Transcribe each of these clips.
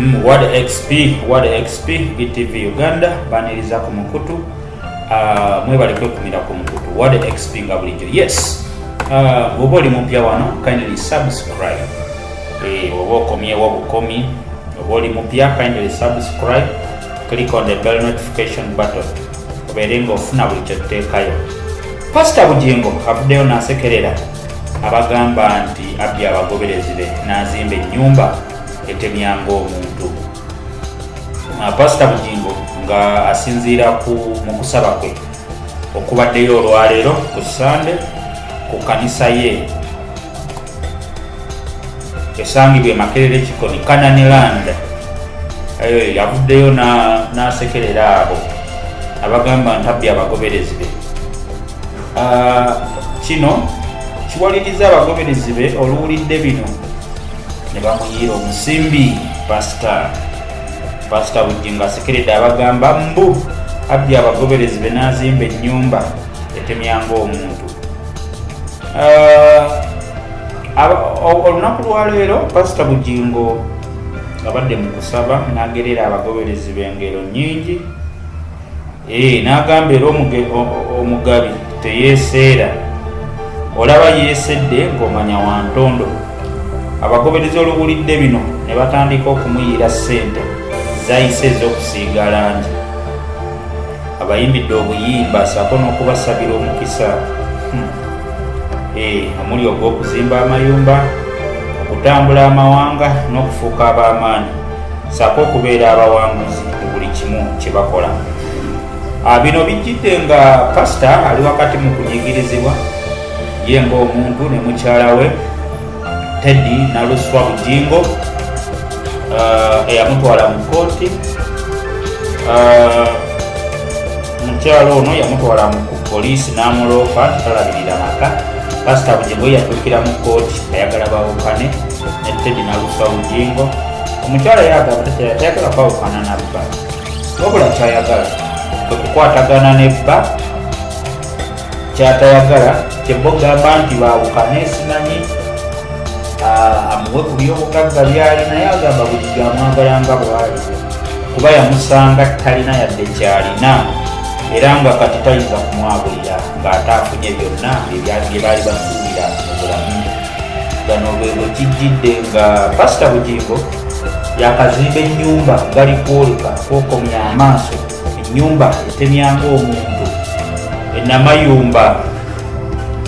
Mm, Word XP, Word XP, BTV Uganda baniriza ku mukutu uh, mwebale kwekumira ku mukutu Word XP nga bulijjo yes uh, bwoba oli mupya wano kindly subscribe eh, oba okomyewo bukomi oba oli mupya kindly subscribe click on the bell notification button obeere nga ofuna buli kyotuteekayo pasita bugingo avuddeyo nasekerera abagamba nti abbye abagoberezi be n'azimba ennyumba etemya ng'omuntu ah, pasita bugingo nga asinziira ku mu kusaba kwe okubaddeyo olwaleero ku sande ku kanisa ye esangibwa emakerere kikoni kananiland eyo yavuddeyo n'asekerera abo abagamba nti abbye abagoberezi be Ah, kino kiwaliriza abagoberezi be oluwulidde bino ne bamuyiira omusimbi pasita pasita bujingo asekeredde abagamba mbu abbye abagoberezi be n'azimba ennyumba etemyanga omuntu ah, olunaku lwaleero pasita bujingo abadde mu kusaba n'agerera abagoberezi be ngero nnyingi ee eh, n'agamba era omugabi teyeeseera olaba yeesedde ng'omanya wa ntondo abagoberezi oluwulidde bino ne batandika okumuyiira ssente zayise ez'okusiiga langi abayimbidde obuyimba saako n'okubasabira omukisa hmm. ee eh, omuli ogw'okuzimba amayumba okutambula amawanga n'okufuuka ab'amaanyi saako okubeera abawanguzi mu buli kimu kye bakola. Ah, bino bijjidde nga pasita ali wakati mu kunyigirizibwa ye ng'omuntu ne mukyala we teddy naluswa bujingo ah, eyamutwala mu kooti ah, omukyala ono yamutwala mu poliisi n'amuloopa tutalabirira maka pasita bugingo yatuukira mu kkooti ayagala bawukane ne tedi nalufa bugingo omukyala yagamba tayagala kwawukana na bba wabula kyayagala kwe kukwatagana ne bba kyatayagala kyemba ogamba nti baawukane simanyi ah, amuwe ku byobugagga byali naye agamba buli gyamwagala nga bwali kuba yamusanga talina yadde kyalina era nga kati tayinza kumwabulira ng'ate afunye byonna ebyali bye baali basuubira mu bulamu gano bwe bwe kijjidde nga pasita bugingo yakazimba ennyumba gali kwoleka kwokomya amaaso enyumba etemya ng'omuntu enamayumba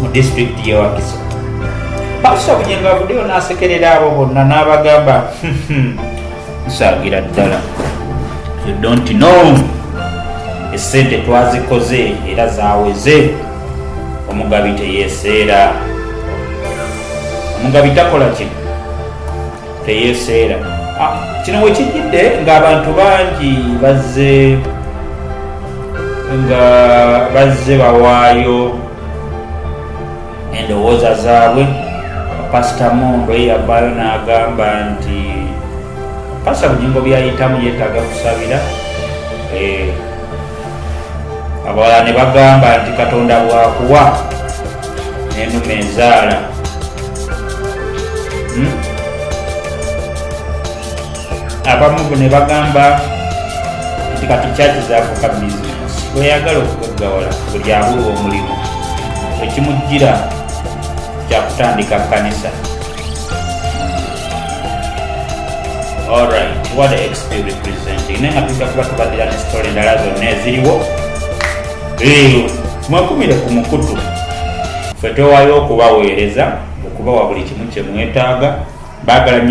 mu disitulikiti yewakiso pasita bunyenga avuddeyo n'asekerera abo bonna n'abagamba hmm, hmm, nsagira ddala you don't know esente twazikoze era zaweze omugabi teyeseera omugabi takola kino teyeseera ah, kino wekijjidde ng'abantu bangi bazze nga bazze bawaayo endowooza zaabwe pasita mondo ye yavaayo n'agamba nti pasita bujingo byayitamu yeetaaga kusabira eh, abawala ne bagamba nti katonda bwakuwa n'enuma enzaala hmm? abamu ne bagamba nti kati kyaki zafuka bizinesi bweyagala okugaggawala buli abulwa omulimu ekimujjira kyakutandika kanisa alright what the xp representing naye nga tujja kuba tubadira ne sitole endala zonna eziriwo Mwakumire ku mukutu ffe twewaayo okubaweereza okubawa buli kimu kye mwetaaga baagala nnyo